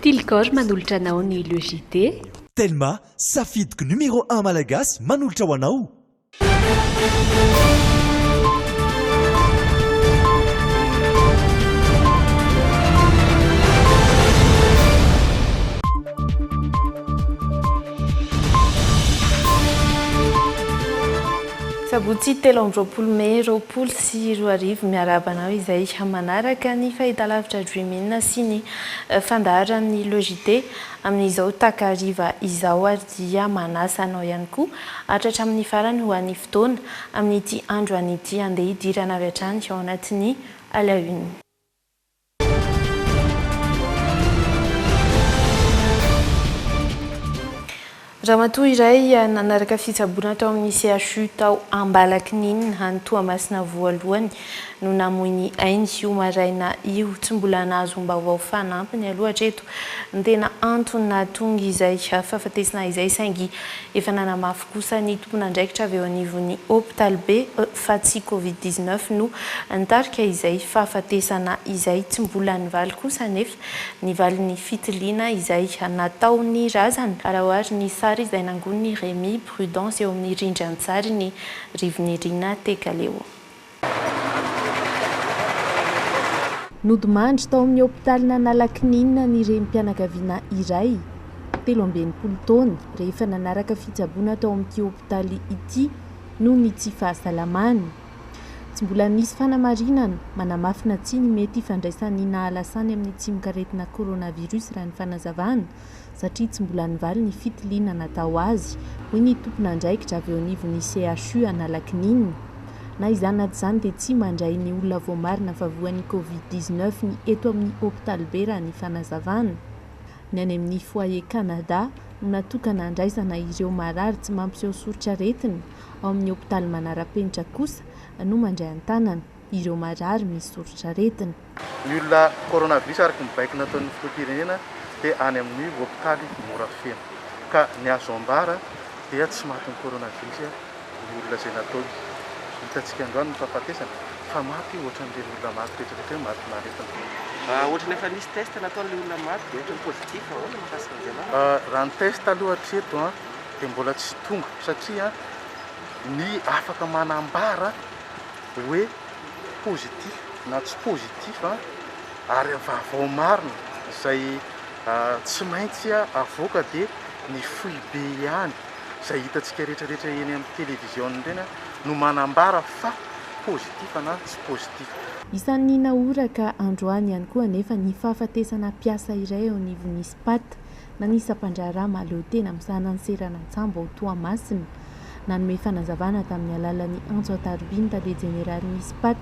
Tilgor manolotra anao ny Le JT. Telma, safidiko numéro un malagasy manolotra ho anao. Sabotsy telo amby roapolo mey roapolo sy roa arivo, miarahaba anao izay manaraka ny fahitalavitra Dream In sy ny fandaharan'ny Logite amin'izao takariva izao ary dia manasa anao ihany koa hatratra amin'ny farany ho an'ny fotoana amin'ity andro any ity handeha hidirana avy hatrany ao anatin'ny à la une. Ramatoa iray nanaraka fitsaboana tao amin'ny CHU tao Ambalakininina, any Toamasina voalohany, no namoy ny ainy io maraina io. Tsy mbola nahazom-baovao fanampiny aloha hatreto ny tena antony nahatonga izay fahafatesana izay saingy efa nanamafy kosa ny tompon'andraikitra avy eo anivon'ny hopitalibe fa tsy Covid dix-neuf no nitarika izay fahafatesana izay. Tsy mbola nivaly kosa anefa. Ny valin'ny fitiliana izay nataon'ny razana, raha ohary ny sary izay nangonin'i Rémy Prudence eo amin'ny rindran-tsarin'i Rivoninirina Tekaleo. Nodimandry tao amin'ny hopitalin'Analakininina ny renim-pianakaviana iray, telo amby enimpolo taona, rehefa nanaraka fitsaboana tao amin'ity hopitaly ity noho ny tsy fahasalamany. Tsy mbola nisy fanamarinana manamafy na tsia ny mety hifandraisan'ny nahalasany amin'ny tsimokaretina coronavirus raha ny fanazavana, satria tsy mbola nivaly ny fitiliana natao azy, hoy ny tompon'andraikitra avy eo anivon'ny CHU Analakininina. Na izany na tsy izany dia tsy mandray ny olona voamarina fa voan'ny covid dix-neuf ny eto amin'ny hopitalibe raha ny fanazavana. Ny any amin'ny Foyer Canada no natokana handraisana ireo marary tsy mampiseho soritr'aretina. Ao amin'ny hopitaly manara-penitra kosa no mandray an-tanana ireo marary misy soritr'aretina. Ny olona coronavirus araka ny baiko nataon'ny filoham-pirenena dia any amin'ny hopitaly Morafeno. Ka ny azo ambara dia tsy matin'ny coronavirus ny olona izay nataony. Hitantsika androany ny fahafatesana fa maty ohatran'ireny olona maty rehetrarehetra ireny matin'aretina. Raha ohatry ny efa nisy test nataon'ilay olona maty dia ohatry ny positif, ahoana mahakasika an'izay marary? Raha ny test aloha hatreto an. dia mbola tsy tonga satria ny afaka manambara hoe positif na tsy positif ary vaovao marina izay tsy maintsy avoaka dia ny foibe ihany izay hitantsika rehetra rehetra eny amin'ny television ireny no manambara fa positif na tsy positif. Isan'ny nahoraka androany ihany koa anefa ny fahafatesana mpiasa iray eo anivon'ny Spat Nanisa mpandraharaha mahaleo tena misahana ny seranan-tsambo ao Toamasina. Nanome fanazavana tamin'ny alalan'ny antso an-tarobia ny tale jeneralin'ny Spat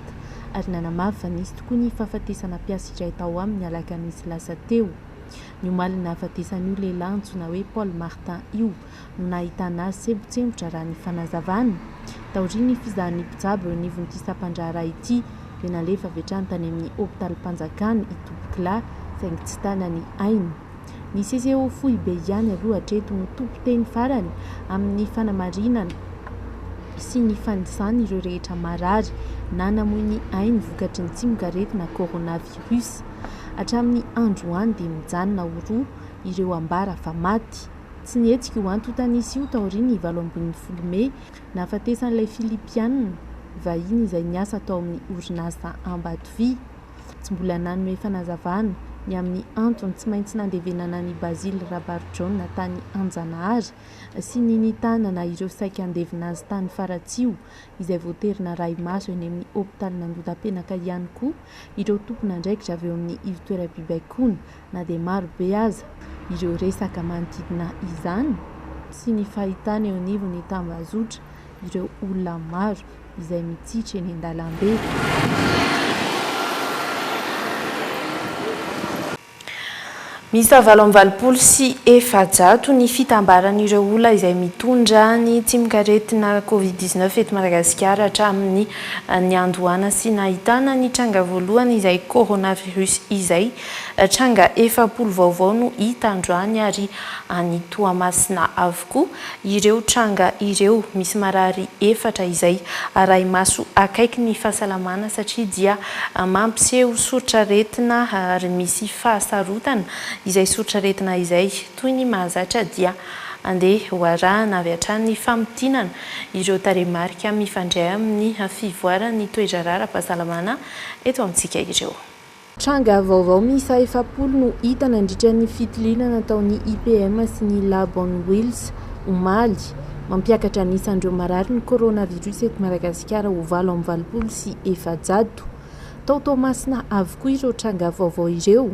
ary nanamafy fa nisy tokoa ny fahafatesana mpiasa iray tao aminy ny alakamisy lasa teo. Ny omalin'ny nahafatesan'io lehilahy antsoina hoe Paul Martin io no nahitana azy sempontsempotra raha ny fanazavana. Taorian'ny fizahan'ny mpitsabo eo anivon'ity sampandraharaha ity dia nalefa avy hatrany tany amin'ny hopitalim-panjakana i Tompokolahy saingy tsy tana ny ainy. Ny CCO foibe ihany aloha hatreto no tompon-teny farany amin'ny fanamarinana sy ny fanisana ireo rehetra marary na namoy ny ainy vokatry ny tsimokaretina coronavirus. Hatramin'ny androany dia mijanona ho roa ireo ambara fa maty. Tsy nihetsika io antontanisy io taorian'ny valo ambin'ny folo mey nahafatesan'ilay Filipiana vahiny izay niasa tao amin'ny orinasa Ambatovy. Tsy mbola nanome fanazavana ny amin'ny antony tsy maintsy nandevenana an'i Basil Rabarjaona tany Anjanahary sy ny nitanana ireo saika handevina azy tany Faratsiho, izay voatery narahi-maso eny amin'ny hopitalin'Andotapenaka ihany koa ireo tompon'andraikitra avy eo amin'ny ivo-toeram-pibaikoana. Na dia maro be aza ireo resaka manodidina izany, tsy ny fahitana eo anivon'ny tambazotra ireo olona maro izay mitsitra eny an-dalambe, miisa valo amby valopolo sy efajato ny fitambaran'ireo olona izay mitondra ny tsimokaretina covid dix neuf eto Madagasikara hatramin'ny niandohana sy nahitana ny tranga voalohany izay coronavirus izay Tranga efapolo vaovao no hita androany ary any Toamasina avokoa ireo tranga ireo. Misy marary efatra izay arahi-maso akaiky ny fahasalamana satria dia mampiseho soritr'aretina ary misy fahasarotana izay soritr'aretina izay. Toy ny mahazatra dia andeha ho arahana avy hatrany ny famintinana ireo tarehimarika mifandray amin'ny fivoaran'ny toe-draharaha ara-pahasalamana eto amintsika ireo. Tranga vaovao miisa efapolo no hita nandritra ny fitiliana nataon'ny IPM sy ny Lab on Wheels, omaly. Mampiakatra ny isan'ireo marary ny coronavirus eto Madagasikara ho valo amby valopolo sy efajato. Tao Toamasina avokoa ireo tranga vaovao ireo.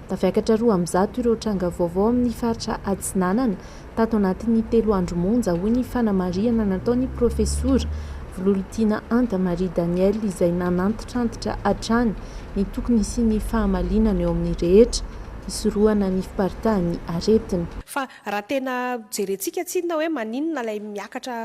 Tafiakatra roa amby zato ireo tranga vaovao amin'ny faritra Atsinanana tato anatin'ny telo andro monja, hoy ny fanamarihana nataon'ny profesora Vololitiana Anta Marie Danielle izay nanantitrantitra hatrany ny tokony hisian'ny fahamalinana eo amin'ny rehetra hisorohana ny fiparitahan'ny aretina. Fa raha tena jerentsika tsinona hoe maninona ilay miakatra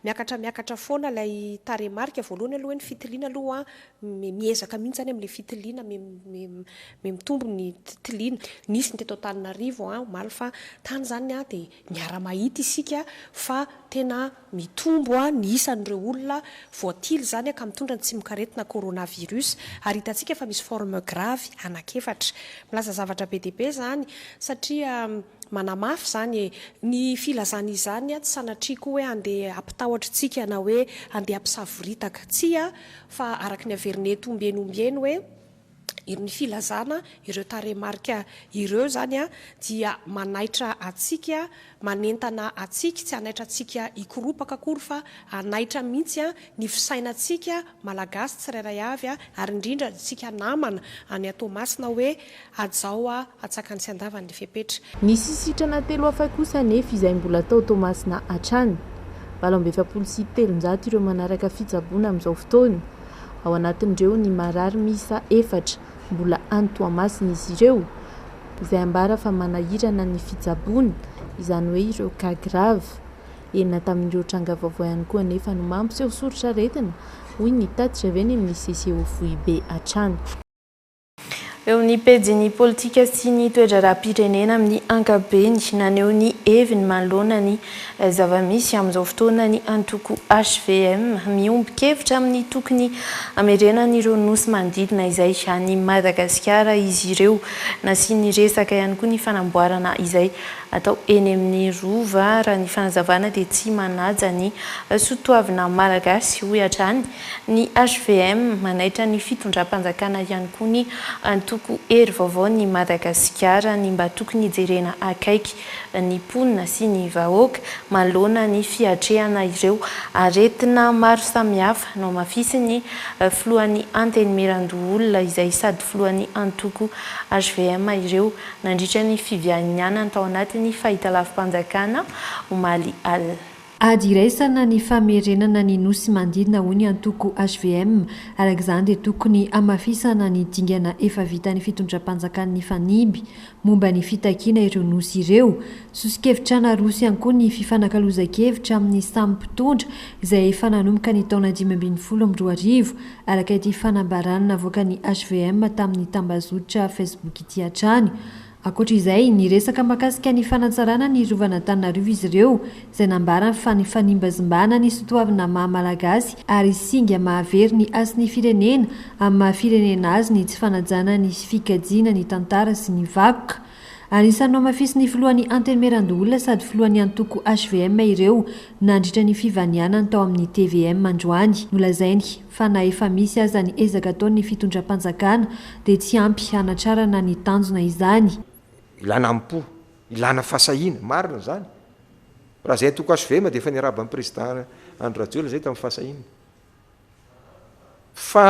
miakatra miakatra foana ilay tarehimarika, voalohany aloha hoe ny fitiliana aloha Mme miezaka mihitsy izany amin'ilay fitiliana, mme mitombo ny tiliana. Nisy ny teto Antananarivo omaly fa tany izany dia miara-mahita isika fa tena mitombo ny isan'ireo olona voatily izany ka mitondra ny tsimokaretina coronavirus ary hitantsika fa misy forme grave anak'efatra. Milaza zavatra be dia be izany satria Manamafy izany e! Ny filazana izany tsy sanatriako hoe handeha hampitahotra antsika na hoe handeha hampisavoritaka. Tsia, fa araka ny averin'eto ombieny ombieny hoe ny filazana ireo tarehimarika ireo izany dia manaitra antsika, manentana antsika, tsy hanaitra antsika hikoropaka akory fa hanaitra mihitsy ny fisainantsika Malagasy tsirairay avy ary indrindra antsika namana any an Toamasina hoe hajao hatsakany sy handavany ny fepetra. Nisy sitrana telo hafa kosa anefa izay mbola tao Toamasina hatrany. Valo amby efapolo sy telonjato ireo manaraka fitsaboana amin'izao fotoana. Ao anatin'ireo ny marary miisa efatra. Mbola any Toamasina izy ireo izay ambara fa manahirana ny fitsaboana, izany hoe ireo cas grave. Enina tamin'ireo tranga vaovao ihany koa anefa no mampiseho soritr'aretina, hoy ny tatitra avy eny amin'ny CCO foibe hatrany. Eo ny pejin'ny politika sy ny toe-draharaham-pirenena amin'ny ankapobeny, naneho ny heviny manoloana ny zava-misy amin'izao fotoana ny antoko hvm, miombon-kevitra amin'ny tokony hamerenan'ireo nosy manodidina izay an'i Madagasikara izy ireo. Nasiany resaka ihany koa ny fanamboarana izay atao eny amin'ny Rova, raha ny fanazavana dia tsy manaja ny soatoavina malagasy, hoy hatrany ny hvm. Manaitra ny fitondram-panjakana ihany koa ny antoko Hery Vaovao ny Madagasikara, ny mba tokony hijerena akaiky ny mponina sy ny vahoaka manoloana ny fiatrehana ireo aretina maro samihafa nohamafisin'ny filohan'ny Antenimierandoholona izay sady filohan'ny antoko hvm ireo Nandritra ny fivianianany tao anatin'ny fahitalavi-panjakana, omaly alina. Ady iraisana ny famerenana ny nosy manodidina hoy ny antoko hvm. Araka izany dia tokony hamafisana ny dingana efa vitan'ny fitondram-panjakany nifaniby momba ny fitakiana ireo nosy ireo. Soso-kevitrana roso ihany koa ny fifanakalozan-kevitra amin'ny samy mpitondra izay efa nanomboka ny taona dimy ambin'ny folo amby roa arivo Araka ity fanambarana navoakan'ny hvm tamin'ny tambazotra Facebook ity hatrany. Ankoatra izay, niresaka mahakasika ny fanatsarana ny rovan'Antananarivo izy ireo, izay nambarany fa nifanimbazimbana ny soatoavina maha Malagasy ary singa mahavery ny hasin'ny firenena amin'ny maha firenena azy ny tsy fanajana ny fikajiana ny tantara sy ny vakoka Anisan'ny nohamafisin'ny filohan'ny Antenimierandoholona sady filohan'ny antoko hvm ireo nandritra ny fivanianany tao amin'ny tvm androany. Nolazainy fa na efa misy aza ny ezaka ataon'ny fitondram-panjakana dia tsy ampy hanatrarana ny tanjona izany. Ilana amim-po, ilana fahasahiana. Marina izany. Raha izahay antoko hvm dia efa niaraban'ny prezida Andry Rajoelina izay tamin'ny fahasahiana. fa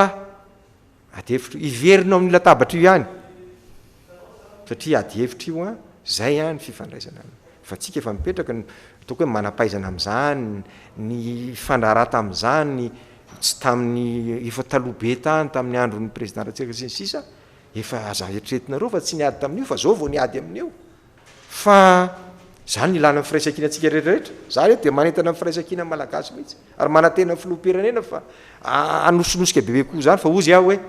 ady hevitra io, hiverina ao amin'ny latabatra io ihany satria ady hevitra io an, izay an ny fifandraisana aminy fa antsika efa mipetraka ny ataoko hoe manam-pahaizana amin'izany, ny hifandraharaha tamin'izany tsy tamin'ny efa taloha be tany tamin'ny andron'ny président Ratsiraka sy ny sisa efa aza eritreretinareo fa tsy niady tamin'io fa izao vao niady amin'io. Fa izany no ilana ny firaisankina antsika rehetrarehetra. Za re dia manentana ny firaisankina ny Malagasy mihitsy ary manantena ny filoham-pirenena fa hanosinosika bebe koa izany fa ozy aho hoe,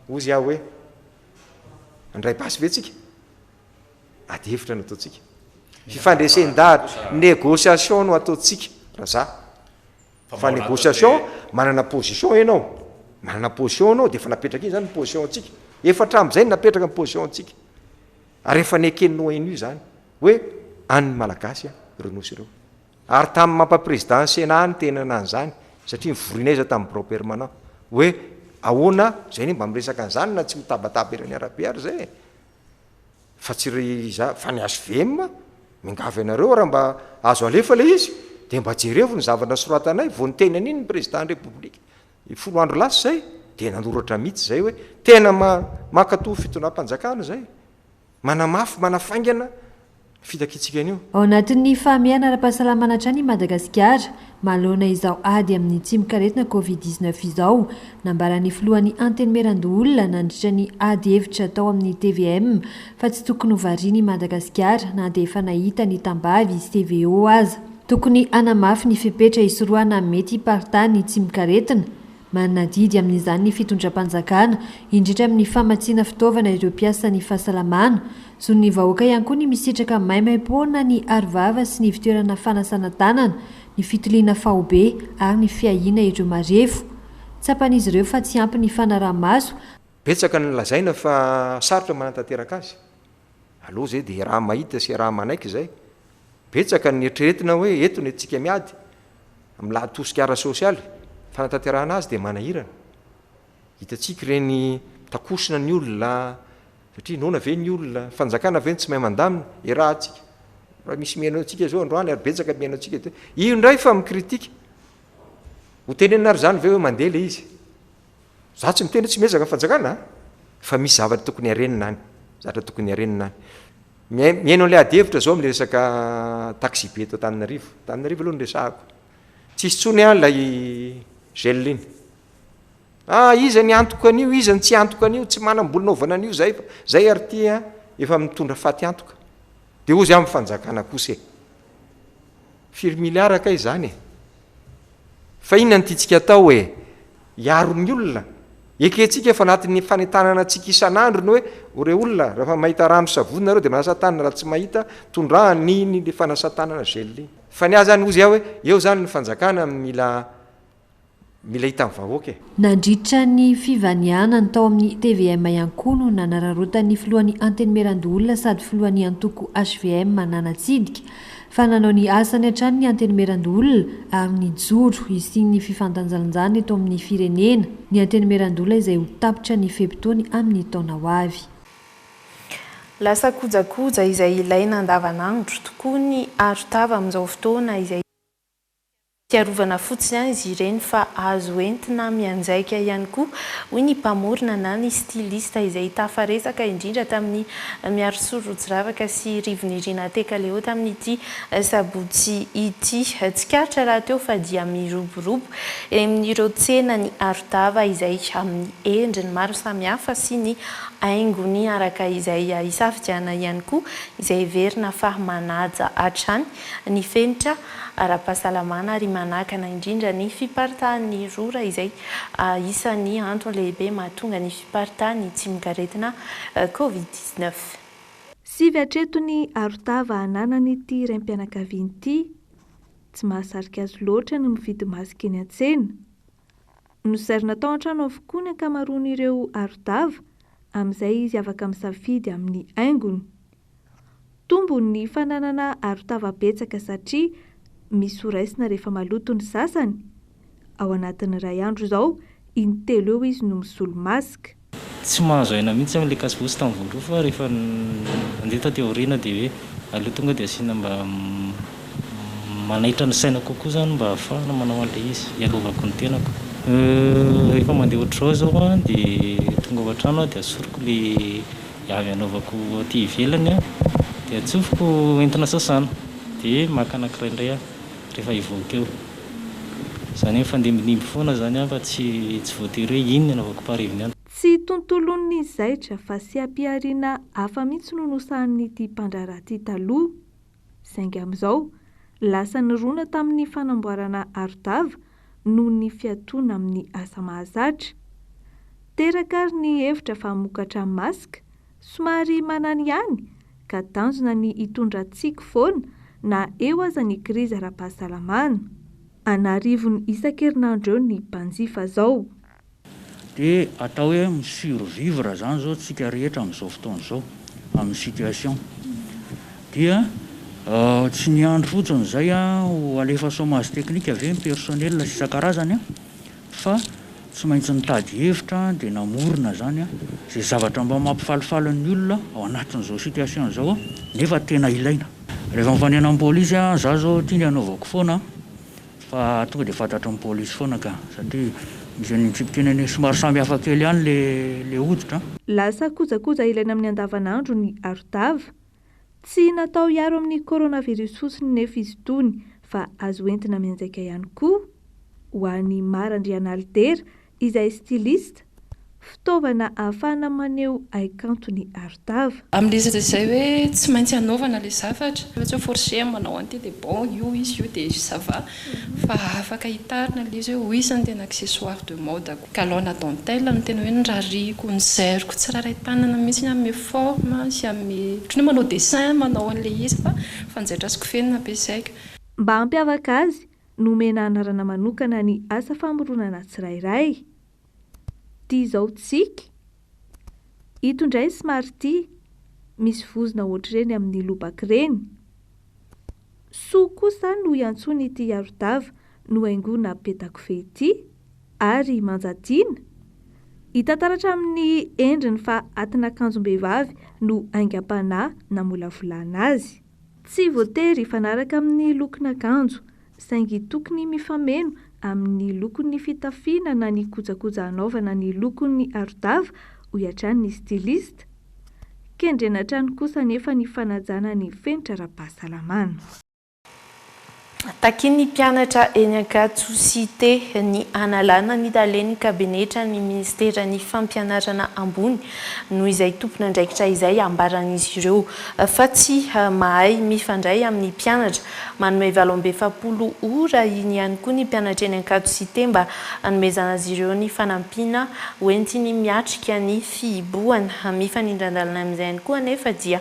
ozy aho hoe, handray basy ve tsika? Ady hevitra no ataontsika. Fifandresen-dahatra, négociation no ataontsika raha za. Fa négociation, manana position ianao, manana position ianao dia efa napetraka iny izany ny position antsika. Efa hatramin'izay no napetraka ny position antsika. Ary efa neken'ny ONU izany hoe an'ny Malagasy ireo nosy ireo. Ary tamin'ny mampapresident ny Sénat aho no teny ana an'izany satria nivorianay izay tamin'ny birao permanent hoe ahoana, izay anie mba miresaka an'izany na tsy mitabataba ery amin'ny arabe ary izay e. Fa tsy ry iza, fa ny HVM, miangavy anareo raha mba azo alefa ilay izy dia mba jerevo ny zavatra nosoratanay vao niteny an'iny ny Président ny République. Dia folo andro lasa izay dia nanoratra mihitsy izay hoe tena mankatò fitondram-panjakana izay, manamafy, manafaingana ny fitakiantsika an'io. Ao anatin'ny fahamehana ara-pahasalamana hatrany i Madagasikara manoloana izao ady amin'ny tsimokaretina Covid dix neuf izao. Nambaran'ny filohan'ny Antenimierandoholona nandritra ny ady hevitra tao amin'ny tvm fa tsy tokony ho variana i Madagasikara na dia efa nahita ny tambavy CVO aza. Tokony hanamafy ny fepetra hisorohana mety hiparitaha ny tsimok'aretina. Manana adidy amin'izany ny fitondram-panjakana, indrindra amin'ny famatsiana fitaovana ireo mpiasan'ny fahasalamana. Zon'ny vahoaka ihany koa ny misitraka maimaimpoana ny arovava sy ny ivtoerana fanasana tanana, ny fitiliana faobe ary ny fiahiana ireo marefo. Tsapan'izy ireo fa tsy ampy ny fanaraha-maso. Betsaka ny lazaina fa sarotra ny manatanteraka azy. Alou zay dia iaraha mahita sy iaraha manaiky izay. Betsaka ny eritreretina hoe eto ny antsika miady amin'ny lahatosika ara-sosialy, fanatanterahana azy dia manahirana. Hitantsika ireny takosona ny olona satria noana ve ny olona, ny fanjakana ve no tsy mahay mandamina, iarahantsika. Raha misy mihaino antsika izao androany ary betsaka ny mihaino antsika eto hoe io indray fa mi-critique. Ho tenenina ary izany ve hoe mandeha ilay izy? Za tsy miteny hoe tsy miezaka fanjakana a! Fa misy zavatra tokony harenina any, zavatra tokony harenina any. Mihaino mihaino an'ilay ady hevitra zao amin'ilay resaka taxi-be eto Antananarivo. Antananarivo aloha no resahako. Tsy hisy intsony an ilay gel iny. Ah, iza ny antoka an'io, iza ny tsy antoka an'io, tsy manam-bola naovana an'io zay fa zay ary ity an, efa mitondra faty antoka. Dia hozy amin'ny fanjakana kosa e! Firy miliara kay izany e? Fa inona ny tiantsika atao hoe hiaro ny olona? Ekentsika fa anatin'ny fanentanana antsika isan'andro ny hoe o re olona rehefa mahita rano sy savony nareo dia manasa tanana raha tsy mahita tondrahana iny ilay fanasa tanana gel iny. Fa ny ahy izany hozy aho hoe eo izany ny fanjakana mila Mila hitan'ny vahoaka e! Nandritra ny fivanianany tao amin'ny tvm ihany koa no nanararaotan'ny filohan'ny Antenimierandoholona sady filohan'ny antoko hvm nanatsidika fa nanao ny asany hatrany ny Antenimierandoholona ary nijoro hisian'ny fifandanjalanjana eto amin'ny firenena ny Antenimierandoholona izay ho tapitra ny fe-potoany amin'ny taona ho avy. Lasa kojakoja izay ilaina andavanandro tokoa ny arotava amin'izao fotoana izay. Fiarovana fotsiny an izy ireny fa azo entina mianjaika ihany koa, hoy ny mpamorona na ny styliste izay tafaresaka indrindra tamin'i Miarisolo Rotsiravaka sy Rivo-Nirina Tekaleho tamin'ity sabotsy ity. Tsikaritra rahateo fa dia miroborobo eny amin'ireo tsenan'i Arodava izay amin'ny endriny maro samihafa sy ny haingony araka izay hisafidianana ihany koa izay heverina fa manaja hatrany ny fenitra ara-pahasalamana ary manakana indrindra ny fiparitahan'ny rora izay isan'ny antony lehibe mahatonga ny fiparitahan'ny tsimokaretina Covid dix neuf. Sivy hatreto ny arotava ananan'ity raim-pianakaviana ity. Tsy mahasarika azy loatra ny mividy masky eny an-tsena. Nozairina tao an-trano avokoa ny ankamaroan'ireo aro-dava, amin'izay izy afaka misafidy amin'ny haingony. Tombony ny fananana aro-tava betsaka satria misy ho raisina rehefa maloto ny sasany. Ao anatin'ny iray andro izao, in-telo eo izy no misolo-mask. Tsy mahazo aina mihitsy zany le kasivosa tam voaloha fa rehefa nandeha taty aoriana de hoe aleo tonga de asiana mba manaitra ny saina kokoa zany mba hahafahana manao anle izy hiarovako ny tenako. Rehefa mandeha ohatr'izao zao a de tonga ao antrano aho de asoriko le avy anaovako aty ivelany a de atsofoko entina sasana de maka anankiray ndray aho rehefa hivoaka eo. Izany hoe mifandimbidimbby foana izany fa tsy tsy voatery hoe iny no anaovako par evening. Tsy tontolon'ny zaitra fa seha-pihariana hafa mihitsy no nosahanin'ity mpandraharaha ity taloha. Saingy amin'izao, lasa nirona tamin'ny fanamboarana arodava noho ny fiatoana amin'ny asa mahazatra. Teraka ary ny hevitra fa mokatra masc Somary manany ihany ka tanjona ny hitondra tsiky foana na eo aza ny krizy ara-pahasalamana. An'arivony isan-kerinandro eo ny mpanjifa zao. Dia atao hoe mi-survivre zany zao tsika rehetra amin'izao fotoana izao amin'ny situation. Dia tsy ny andry fotsiny izay ho alefa chomage technique ve ny personnel sy isan-karazany Fa tsy maintsy nitady hevitra dia namorona izany izay zavatra mba mampifalifaly ny olona ao anatin'izao situation izao nefa tena ilaina. Rehefa mifanena amin'ny polisy za zao ty ny anaovako foana fa tonga dia fantatry ny polisy foana ka satria misy an'iny tsipika iny anie somary samy hafa kely ihany le hoditra. Lasa kojakoja ilaina amin'ny andavanandro ny arotava. Tsy natao hiaro amin'ny coronavirus fotsiny nefa izy itony fa azo entina mianjaika ihany koa ho an'i Mara Andrianalidera izay styliste, fitaovana ahafahana maneho haikanto ny arotava. Amin'ny resaka izay hoe tsy maintsy anaovana ilay zavatra, fa tsy hoe forcer manao an'ity dia bon io izy io dia ça va. Fa afaka hitarina ilay izy hoe oui zany tena accessoire de mode ko. Galon-na dentelle no tena hoe norariako, nozairiko tsirairay tanana mihitsy ny hanome forme sy hanome ohatran'ny hoe manao dessin manao an'ilay izy fa fanjaitra sy kofehy no nampiasaiko. Mba hampiavaka azy, nomena anarana manokana ny asa famoronana tsirairay. Ty zao tsiky. Ito ndray somary ty misy vozona ohatr'ireny amin'ny lobaka ireny. Soa koa sa no iantsoana ity arodava nohaingoina petakofehy ity ary manja tiana? Hita taratra amin'ny endriny fa atin'akanjom-behivavy no aingam-panahy namolavolana azy. Tsy voatery hifanaraka amin'ny lokon'akanjo, saingy tokony mifameno amin'ny lokon'ny fitafiana na ny kojakoja hanaovana ny lokon'ny aro-dava, hoy hatrany ny styliste. Kendrena hatrany kosa anefa ny fanajana ny fenitra ara-pahasalamana. Takian'ny mpianatra eny Ankatso Cité ny hanalana ny talen'ny kabinetra ny minisiteran'ny fampianarana ambony noho izay tompon'andraikitra izay ambaran'izy ireo fa tsy mahay mifandray amin'ny mpianatra. Manome valo amby efapolo ora iny ihany koa ny mpianatra eny Ankatso Cité mba hanomezana azy ireo ny fanampiana hoentiny miatrika ny fihibohana. Mifanindran-dalana amin'izay ihany koa anefa dia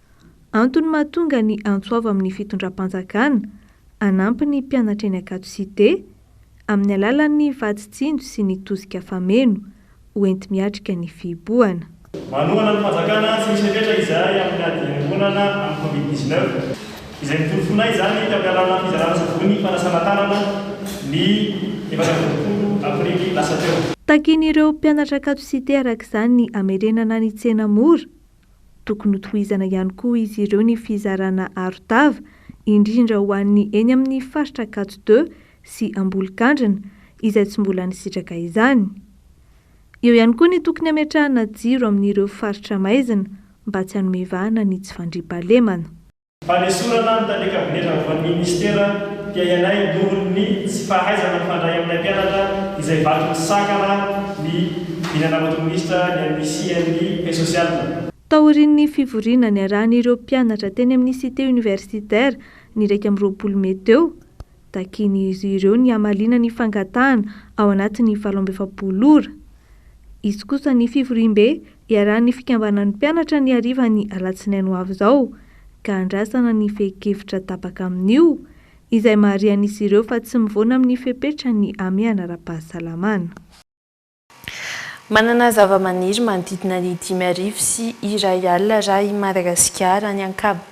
Antony mahatonga ny antso avo amin'ny fitondram-panjakana hanampy ny mpianatra eny Ankatso Cité amin'ny alalan'ny vatsy tsinjo sy ny tosika fameno ho enti-miatrika ny fihibohana. Manohana ny fanjakana tsy misy fepetra izahay amin'ny ady iombonana amin'ny Covid dix neuf, izay niporofoina izany tamin'ny alalan'ny fizarana savony fanasana tanana ny efatra amby roapolo aprily lasa teo. Takin'ireo mpianatra Ankatso Cité araka izany ny hamerenana ny tsena mora Tokony hotohizana ihany koa izy ireo ny fizarana arotava, indrindra ho an'ny eny amin'ny faritra Ankatso deux sy Ambolokandrina izay tsy mbola nisitraka izany. Eo ihany koa ny tokony hametrahana jiro amin'ireo faritra maizina mba tsy hanome vahana ny tsy fandriampahalemana. Fanesorana ny tany an-kabinetra avy ho an'ny minisitera dia ialahy nohon'ny tsy fahaizana mifandray amin'ny mpianatra izay vaton'ny sakana ny vinan'Ambato Minisitra ny amin'ny CNI Paix Sociale. Taorian'ny fivoriana niarahan'ireo mpianatra teny amin'ny Cité Universitaire ny iraika amby roapolo mey teo, takian'izy ireo ny hamaliana ny fangatahana ao anatin'ny valo amby efapolo ora. Hisy kosa ny fivoriambe Iarahan'ny fikambanan'ny mpianatra ny harivan'ny alatsinainy ho avy izao ka andrasana ny fehin-kevitra tapaka amin'io, izay maharian'izy ireo fa tsy mivoana amin'ny fepetra ny hamehana ara-pahasalamana. Manana zavamaniry manodidina ny dimy arivo sy iray alina Ar i Madagasikara, ny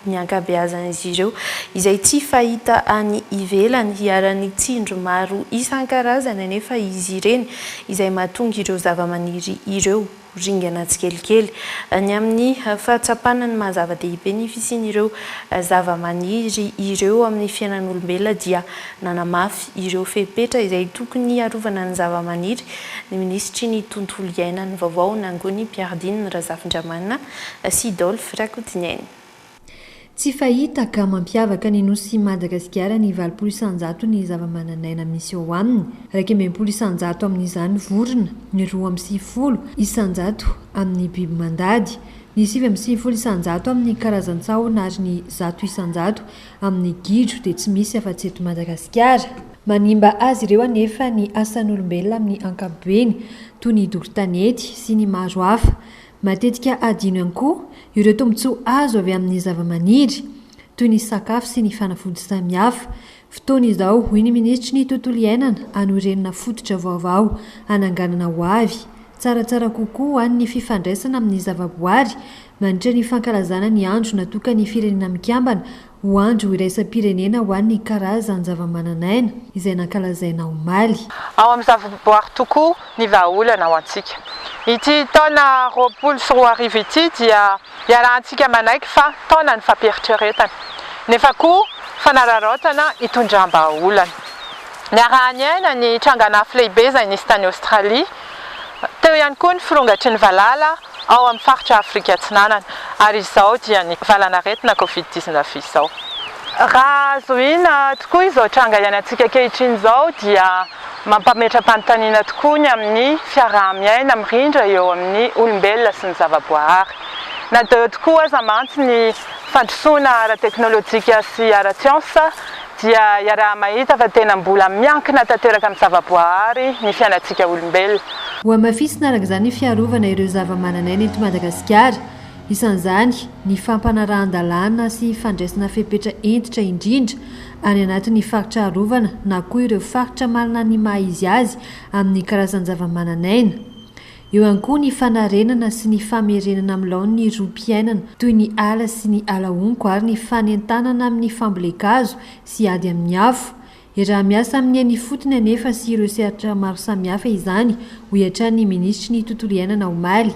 ny ankabeazan'izy ireo izay tsy fahita any ivelany. Iharan'ny tsindry maro isan-karazany anefa izy ireny izay mahatonga ireo zavamaniry ireo ho ringana tsikelikely. Ny amin'ny fahatsapana ny maha-zava-dehibe ny fisian'ireo zavamaniry ireo amin'ny fiainan'olombelona dia nanamafy ireo fepetra izay tokony hiarovana ny zavamaniry ny minisitry ny Tontolo iainan'ny vaovao, Nangony Mpiaridiny Razafindramanana sy Dolf Rakotoneni. Tsy fahita ka mampiavaka ny Nosin'i Madagasikara ny valopolo isanjato ny zavamananaina misy ao aminy, iraika amby enimpolo isanjato amin'izany vorona, ny roa amby sivifolo isanjato amin'ny biby mandady, ny sivy amby sivifolo isanjato amin'ny karazan-tsahona ary ny zato isanjato amin'ny gidro dia tsy misy afa-tsy eto Madagasikara. Manimba azy ireo anefa ny asan'olombelona amin'ny ankapobeny, toy ny doro tanety sy ny maro hafa. Matetika hadino ihany koa ireo tombontsoa azo avy amin'ny zavamaniry, toy ny sakafo sy ny fanafody samihafa. Fotoana izao, hoy ny minisitry ny Tontolo iainana, hanorenana fototra vaovao hananganana ho avy, tsaratsara kokoa ho an'ny fifandraisana amin'ny zavaboary, mandritra ny fankalazana ny Andro natokan'ny Firenena Mikambana Ho andro iraisam-pirenena ho an'ny karazan-javamananaina izay nankalazaina omaly. Ao amin'ny zavaboary tokoa ny vahaolana ho antsika. Ity taona roapolo sy roa arivo ity dia iarahantsika manaiky fa taonan'ny fampieritrieretana, nefa koa fanararaotana hitondram-bahaolana. Niaraha-niaina ny trangan'afo lehibe izay nisy tany Aostralia. Teo ihany koa ny firongatry ny valala ao amin'ny faritra Afrika Atsinanana ary izao dia ny valan'aretina Covid dix neuf izao. Raha azo ina tokoa izao tranga iainantsika ankehitriny izao dia mampametra-panontaniana tokoa ny amin'ny fiaraha-miaina mirindra eo amin'ny olombelona sy ny zava-boahary. Na dia eo tokoa aza mantsy ny fandrosoana ara-teknolojika sy ara-tsiansa dia iaraha-mahita fa tena mbola miankina tanteraka amin'ny zavaboahary ny fiainantsika olombelona. Hohamafisina araka izany ny fiarovana ireo zavamananaina eto Madagasikara. Isan'izany ny fampanarahan-dalàna sy fandraisana fepetra hentitra indrindra any anatin'ny faritra arovana na koa ireo faritra manana ny maha-izy azy amin'ny karazan-javamananaina. Eo ihany koa ny fanarenana sy ny famerenana amin'ny laoniny rohim-piainana toy ny ala sy ny ala honko ary ny fanentanana amin'ny fambolen-kazo sy ady amin'ny afo. Iaraha-miasa amin'ny eny ifotony anefa sy ireo sehatra maro samihafa izany, hoy hatrany ny minisitry ny Tontolo iainana omaly.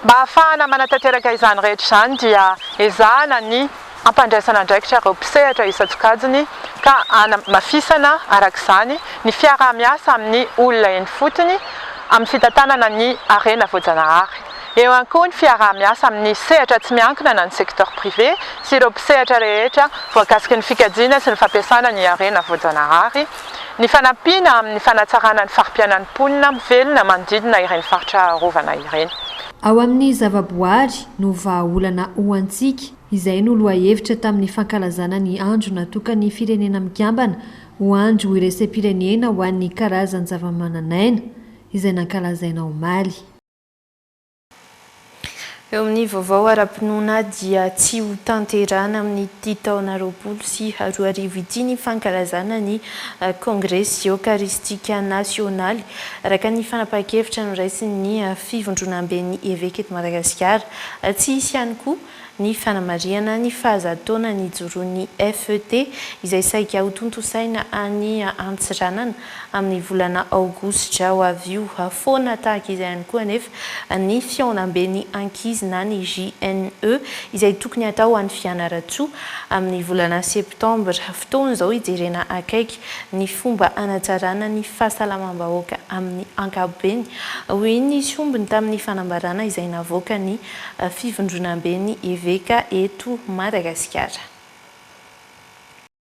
Mba hahafahana manatanteraka izany rehetra izany dia ezahana ny. hampandraisana andraikitra ireo mpisehatra isan-tsokajiny ka hanamafisana, araka izany, ny fiaraha-miasa amin'ny olona eny ifotony amin'ny fitantanana ny harena voajanahary. Eo ihany koa ny fiaraha-miasa amin'ny sehatra tsy miankina na ny secteur privé sy ireo mpisehatra rehetra voakasiky ny fikajiana sy ny fampiasana ny harena voajanahary, ny fanampiana amin'ny fanatsarana ny fari-piainan'ny mponina velona manodidina ireny faritra arovana ireny. Ao amin'ny zavaboary no vahaolana ho antsika. Izay no lohahevitra tamin'ny fankalazana ny Andro natokan'ny Firenena Mikambana ho Andro Iraisam-pirenena ho an'ny Karazan-javamananaina, izay nankalazaina omaly. Eo amin'ny vaovao ara-pinoana dia tsy ho tanterahana amin'ity taona roapolo sy roa arivo ity ny fankalazana ny Kongresy Eokaristika Nasionaly, araka ny fanapahan-kevitra noraisin'ny Fivondronamben'ny Eveka eto Madagasikara. Tsy hisy ihany koa ny fanamarihana ny faha-zato taona nijoroan'ny FET, izay saika hotontosaina any Antsiranana amin'ny volana aogositra ho avy io foana. Tahaka izay ihany koa anefa ny fihaonamben'ny ankizy na ny JNE, izay tokony hatao any Fianarantsoa amin'ny volana septambra. Fotoana izao hijerena akaiky ny fomba hanajarana ny fahasalamam-bahoaka amin'ny ankapobeny, hoy ny sombiny tamin'ny fanambarana izay navoakan'ny Fivondronamben'ny Eveka eto Madagasikara.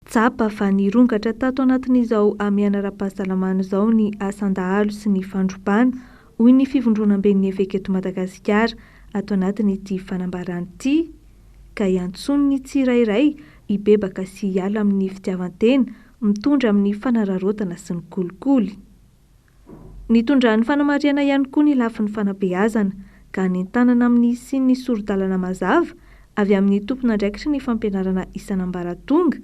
Tsapa fa nirongatra tato anatin'izao hamehana ara-pahasalamana izao ny asan-dahalo sy ny fandrobana, hoy ny Fivondronamben'ny Eveka eto Madagasikara, ato anatin'ity fanambarana ity. ka hiantsoany ny tsirairay hibebaka sy hiala amin'ny fitiavan-tena mitondra amin'ny fanararaotana sy ny kolikoly. Nitondran'ny fanamarihana ihany koa ny lafiny fanabeazana, ka nentanana amin'ny hisian'ny sori-dalana mazava avy amin'ny tompon'andraikitry ny fampianarana isan'ambaratonga,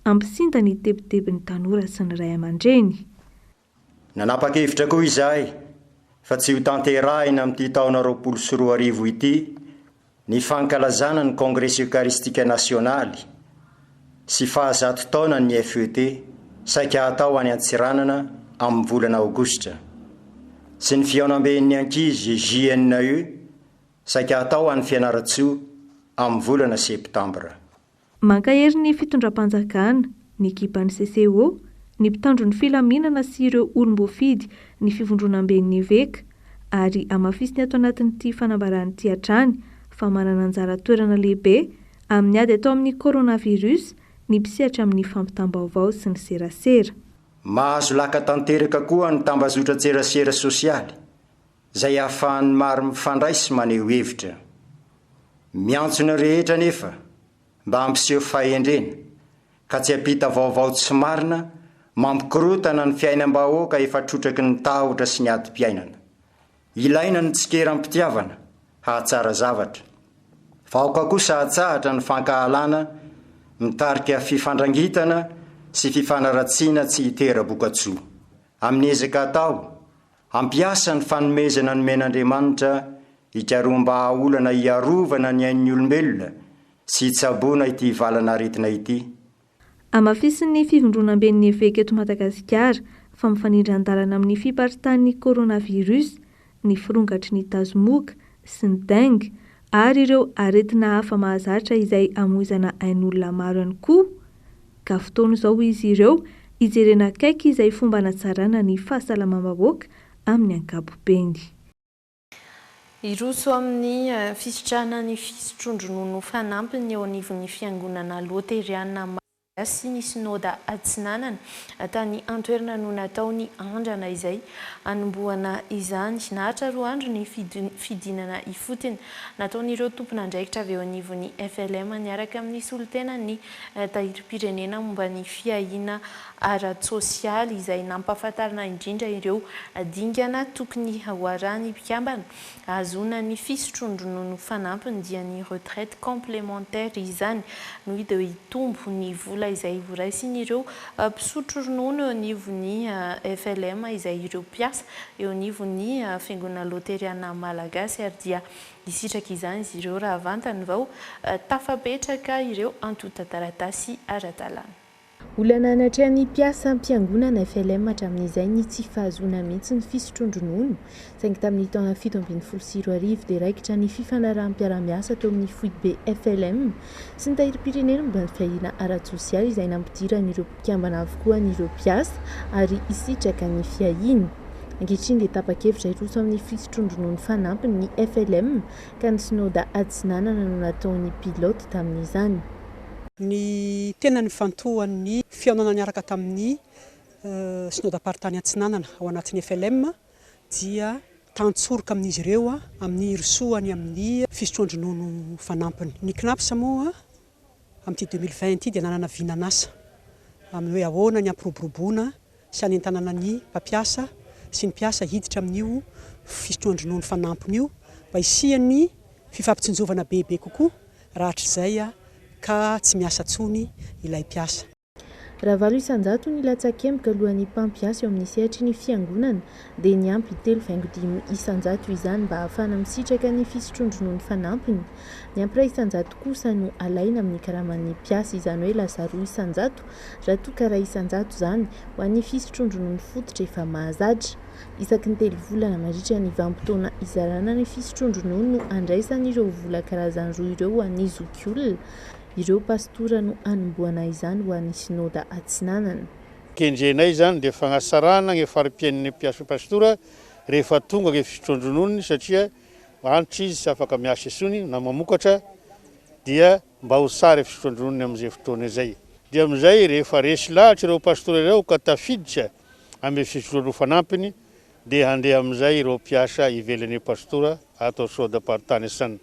hampisinda ny tebitebin'ny tanora sy ny ray aman-dreny. Nanapa-kevitra koa izahay fa tsy hotanterahina amin'ity taona roapolo sy roa arivo ity ny fankalazana ny Kongresy Eokaristika Nasionaly sy fahazato taonan'ny FET saika hatao any Antsiranana amin'ny volana Aogositra sy ny Fihaonamben'ny Ankizy, JNE, saika hatao any Fianarantsoa amin'ny volana Septambra. Mankahery ny fitondram-panjakana, ny ekipan'ny CCO, ny mpitandro ny filaminana sy ireo olom-boafidy ny Fivondronamben'ny Eveka ary hamafisiny ato anatin'ity fanambarana ity hatrany fa manana anjara toerana lehibe amin'ny ady atao amin'ny Coronavirus ny mpisehatra amin'ny fampitam-baovao sy ny serasera. Mahazo laka tanteraka koa ny tambazotran-tserasera sosialy izay ahafahan'ny maro mifandray sy maneho hevitra. Miantso ny rehetra anefa mba hampiseho fahendrena ka tsy hampita vaovao tsy marina mampikorontana ny fiainam-bahoaka efa trotraky ny tahotra sy ny adim-piainana. Ilaina ny tsikera am-pitiavana hahatsara zavatra. Vahoka kosa hatsahatra ny fankahalana mitarika fifandrangitana sy fifanaratsiana tsy hitera-bokatsoa amin'ny ezaka atao Hampiasa ny fanomezana nomen'Andriamanitra hikaroham-bahaolana hiarovana ny ain'ny olombelona sy hitsaboana ity valan'aretina ity. Hamafisin'ny Fivondronamben'ny Eveka eto Madagasikara fa mifanindran-dalana amin'ny fiparitan'ny Coronavirus ny firongatry ny tazomoka sy ny dengue ary ireo aretina hafa mahazatra izay hamoizana ain'olona maro ihany koa ka fotoana izao izy ireo hijerena akaiky izay fomba hanatsarana ny fahasalamam-bahoaka amin'ny ankapobeny. Hiroso amin'ny fisitrahana ny fisotroan-dronono fanampiny eo anivon'ny Fiangonana Loteriana Malagasy ny Synoda Atsinanana. Tany an-toerana no natao ny andrana izay hanombohana izany. Naharitra roa andro ny fidinana ifotony nataon'ireo tompon'andraikitra avy eo anivon'ny FLM niaraka amin'ny solontenan'ny Tahirim-pirenena momba ny fiahiana ara-tsosialy izay nampahafantarina indrindra ireo dingana tokony hoarahan'ny mpikambana hahazoana ny fisotroan-dronono fanampiny dia ny retraite complémentaire izany no hita hitombo ny vola izay horaisin'ireo mpisotro ronono eo anivon'ny FLM izay ireo mpiasa eo anivon'ny fiangonana loteriana malagasy ary dia Nisitraka izany izy ireo raha vantany vao tafapetraka ireo antontan-taratasy ara-dalàna. Olana anatrehan'ny mpiasam-piangonana FLM hatramin'izay ny tsy fahazoana mihitsy ny fisotroan-dronono, saingy tamin'ny taona fito ambin'ny folo sy roa arivo dia raikitra ny fifanaraham-piarahamiasa teo amin'ny foibe FLM sy ny Tahirim-pirenena momba ny fiahiana ara-tsosialy izay nampidiran'ireo mpikambana avokoa ny ireo mpiasa ary hisitraka ny fiahiany. Ankehitriny dia tapa-kevitra hiroso amin'ny fisotroan-dronono fanampiny ny FLM ka ny Synoda Atsinanana no nataony pilote tamin'izany. Ny tena nifantohan'ny fihaonana niaraka tamin'ny Synodam-paritany Atsinanana ao anatin'ny FLM dia tantsoroka amin'izy ireo amin'ny hirosoany amin'ny fisotroan-dronono fanampiny. Ny Cnaps moa amin'ity deux mille vingt ity dia nanana vinan'asa amin'ny hoe ahoana ny hampiroboroboana sy hanentanana ny mpampiasa sy ny mpiasa hiditra amin'io fisotroan-dronono fanampiny io mba hisian'ny fifampitsinjovana bebe kokoa raha hatrizay ka tsy miasa intsony ilay mpiasa. Raha valo isan-jato ny latsakemboka alohan'ny mpampiasa eo amin'ny sehatry ny Fiangonana, dia niampy telo faingo dimy isan-jato izany mba hahafahana misitraka ny fisotroan-dronono fanampiny. Ny ampira isan-jato kosa no alaina amin'ny karaman'ny mpiasa, izany hoe lasa roa isan-jato, raha toa ka iray isan-jato izany, ho an'ny fisotroan-dronono fototra efa mahazatra. Isaky ny telo volana, mandritra ny vanim-potoana izarana ny fisotroan-dronono no andraisana ireo vola karazany roa ireo ho an'ny zokiolona. Ireo pastora no hanombohana izany ho an'ny Synoda Atsinanana. Kendrenay izany dia fanatsarana ny fari-piainan'ny mpiasa pastora rehefa tonga ny fisotroan-drononony satria antitra izy tsy afaka miasa intsony na mamokatra dia mba ho tsara ny fisotroan-drononony amin'izay fotoana izay. Dia amin'izay rehefa resy lahatra ireo pastora ireo ka tafiditra amin'ny fisotroan-dro fanampiny, Dia handeha amin'izay ireo mpiasa ivelan'ny pastora ato Soda Partaneson.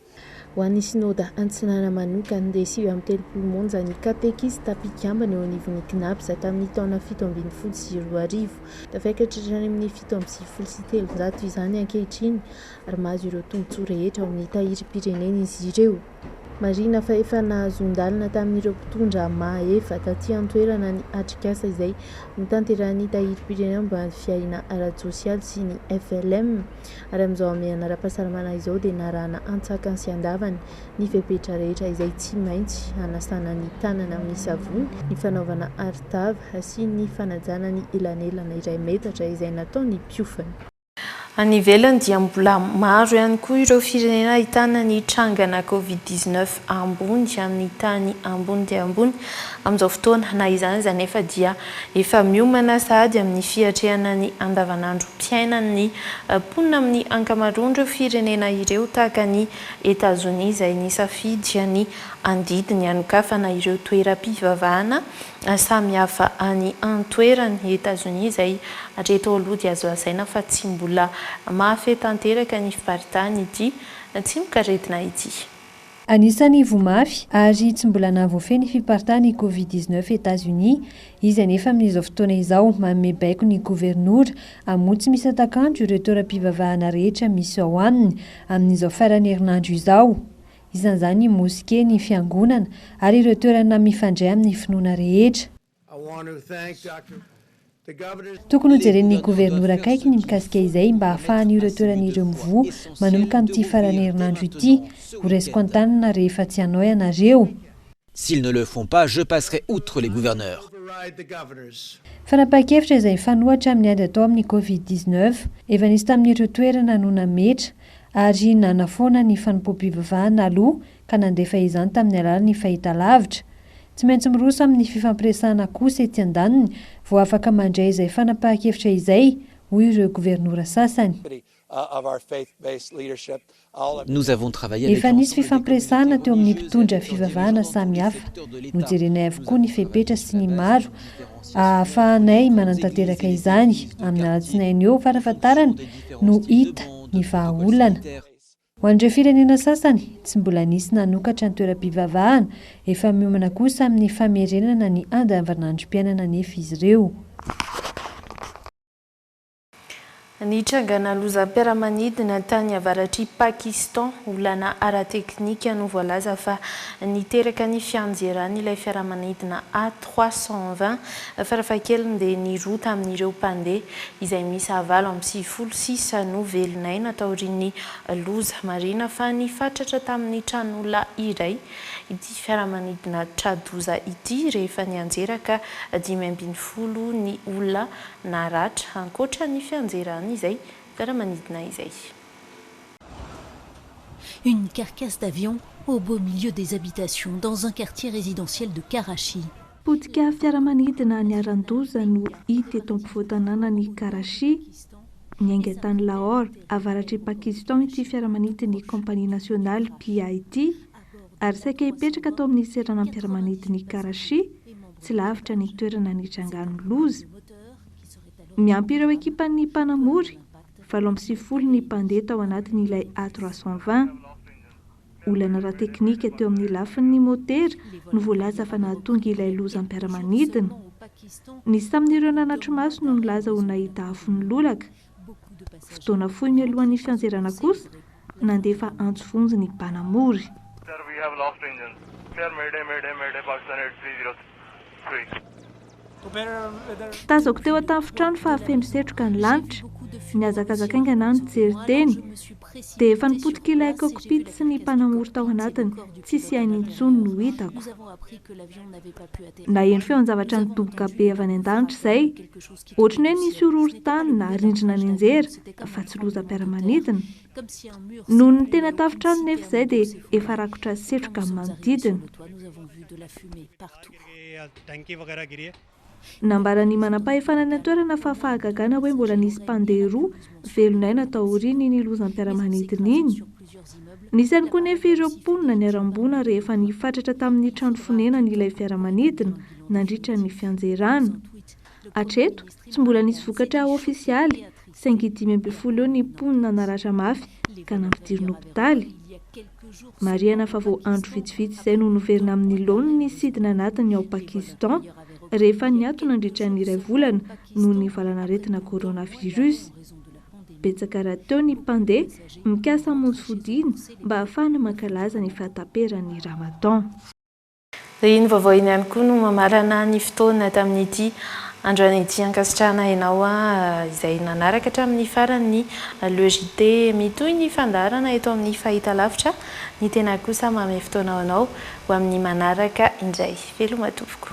Ho an'ny Synoda Antsinana manokana dia sivy amby telopolo monja ny katekista mpikambana eo anivon'ny CNAPS tamin'ny taona fito ambin'ny folo sy roa arivo. Tafiakatra hatrany amin'ny fito amby sivifolo sy telonjato izany ankehitriny ary mahazo ireo tombontsoa rehetra ao amin'ny tahirim-pirenena izy ireo. Marihina fa efa nahazoan-dalana tamin'ireo mpitondra maha efa taty an-toerana ny atrikasa izay notanterahin'ny Tahirim-pirenena momba ny fiahiana ara-tsosialy sy ny FLM ary amin'izao hamehana ara-pahasalamana izao dia narahana antsakany sy andavany ny fepetra rehetra izay tsy maintsy hanasana ny tanana amin'ny savony, ny fanaovana arotava sy ny fanajana ny elanelana iray metatra izay nataon'ny mpiofana. Any ivelany dia mbola maro ihany koa ireo firenena ahitana ny trangana covid dix neuf ambony amin'ny tany ambony dia ambony amin'izao fotoana. Na izany aza anefa dia efa miomana sahady amin'ny fiatrehana ny andavanandrom-piainan'ny mponina amin'ny ankamaroan'ireo firenena ireo tahaka an'i Etazonia izay nisafidy ny handidy ny hanokafana ireo toeram-pivavahana Samihafa any an-toerana, i Etazonia izay hatreto aloha dia azo lazaina fa tsy mbola mahafehy tanteraka ny fiparitahan' ity tsimokaretina ity. Anisan'ny voa mafy ary tsy mbola nahavoafehy ny fiparitahan' ny Covid dix-neuf i Etazonia. Izy anefa amin' izao fotoana izao manome baiko ny governora hamoha tsy misy hatakanto ireo toeram-pivavahana rehetra misy ao aminy amin' izao faran'ny herinandro izao. isan'izany ny moske, ny fiangonana ary ireo toerana mifandray amin'ny finoana rehetra. Tokony hojeren'ny governora akaiky ny mikasika izay mba hahafahan'io ireo toerana ireo mivoha manomboka amin'ity faran'ny herinandro ity. Ho raisiko an-tanana rehefa tsy hanao ianareo. S'ils ne le font pas, je passerai outre les gouverneurs. Fanapahan-kevitra izay hifanohitra amin'ny ady atao amin'ny Covid dix neuf efa nisy tamin'ireo toerana no nametra ary nanafoana ny fanompoam-pivavahana aloha ka nandefa izany tamin'ny alalan'ny fahitalavitra. Tsy maintsy miroso amin'ny fifampiresahana kosa etsy andaniny vao afaka mandray izay fanapahan-kevitra izay, hoy ireo governora sasany. Efa nisy fifampiresahana teo amin'ny mpitondra fivavahana samy hafa. Nojerenay avokoa ny fepetra sy ny maro ahafahanay manantanteraka izany. Amin'ny alatsinainy eo farafahatarany no hita ny vahaolana. Ho an'ireo firenena sasany tsy mbola nisy nanokatra ny toeram-pivavahana, efa miomana kosa amin'ny famerenana ny andavanandrom-piainana anefa izy ireo. Nitrangana lozam-piaramanidina tany avaratr'i Pakistan, olana ara-teknika no voalaza fa niteraka ny fianjeran'ilay fiaramanidina A trois cent vingt, farafahakeliny dia ny roa tamin'ireo mpandeha, izay miisa valo amby sivifolo sisa no velon'aina taorian'ny loza. Marihina fa nifatratra tamin'ny tranolona iray ity fiaramanidina tra-doza ity rehefa nianjera ka dimy ambin'ny folo ny olona naratra ankoatra ny fianjerany izay fiaramanidina izay. Une carcasse d'avion au beau milieu des habitations dans un quartier résidentiel de Karachi. Potika fiaramanidina niharan-doza no hita eto ampovoan-tanànan'i Karachi, niainga tany Lahore, avaratr'i Pakistan ity fiaramanidin'ny Compagnie Nationale PIT, Ary saika hipetraka tao amin'ny seranam-piaramanidin'i Karachi, tsy lavitra ny toerana nitrangan'ny loza. Miampy ireo ekipan'ny mpanamory, valo amby sivifolo ny mpandeha tao anatin'ilay A trois cent vingt. Olana ara-teknika teo amin'ny lafin'ny motera no voalaza fa nahatonga ilay lozam-piaramanidina. Nisy tamin'ireo nanatri-maso no nilaza ho nahita afo nilolaka. Fotoana fohy mialohan'ny fianjerana kosa, nandefa antso vonjy ny mpanamory. Tazako teo an-tafontrano fa feno setroka ny lanitra. Nihazakazaka haingana aho nijery teny, dia efa nipotika ilay cockpit sy ny mpanamory tao anatiny, tsisy ainy intsony no hitako. Naheno feon-javatra nidoboka be avy any an-danitra izay, Ohatran'ny hoe nisy horohorontany na rindrina nenjehera fa tsy lozam-piaramanidina. Noho ny tena tafontrano nefa izay dia efa rakotra setroka amin'ny manodidina. Nambaran'ny manampahefana any an-toerana fa fahagagana hoe mbola nisy mpandeha roa velon'aina taorian'iny lozam-piaramanidina iny. Nisy ihany koa nefa ireo mponina niharam-boina rehefa nifatratra tamin'ny trano fonenany ilay fiaramanidina nandritra ny fianjerana. Hatreto, tsy mbola nisy vokatra ofisialy, saingy dimy ambin'ny folo eo ny mponina naratra mafy ka nampidirina hopitaly. Marihana fa vao andro vitsivitsy izay no noverina amin'ny laoniny ny sidina anatiny ao Pakistan, rehefa niato nandritra ny iray volana noho ny valanaretina coronavirus. Betsaka rahateo ny mpandeha mikasa hamonjy fodiana mba hahafahana mankalaza ny fahataperan'ny Ramadan. Iny vaovao iny ihany koa no mamarana ny fotoana tamin'ity androany ity ankasitrahana ianao izay nanaraka hatramin'ny farany ny Le JT mitohy ny fandaharana eto amin'ny Fahitalavitra ny tena kosa mamehy fotoana ho anao ho amin'ny manaraka indray veloma tompoko.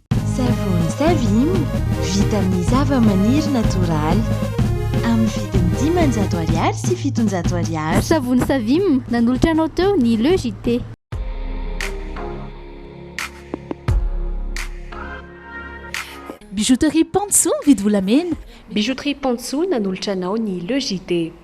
Savony Savim vita amin'ny zavamaniry natoraly, amin'ny vidiny dimanjato ariary sy fitonjato ariary. Savony Savim, nanolotra anao teo ny Le JT. Bijouterie Pantsu mividy volamena. Bijouterie Pantsu nanolotra anao ny Le JT.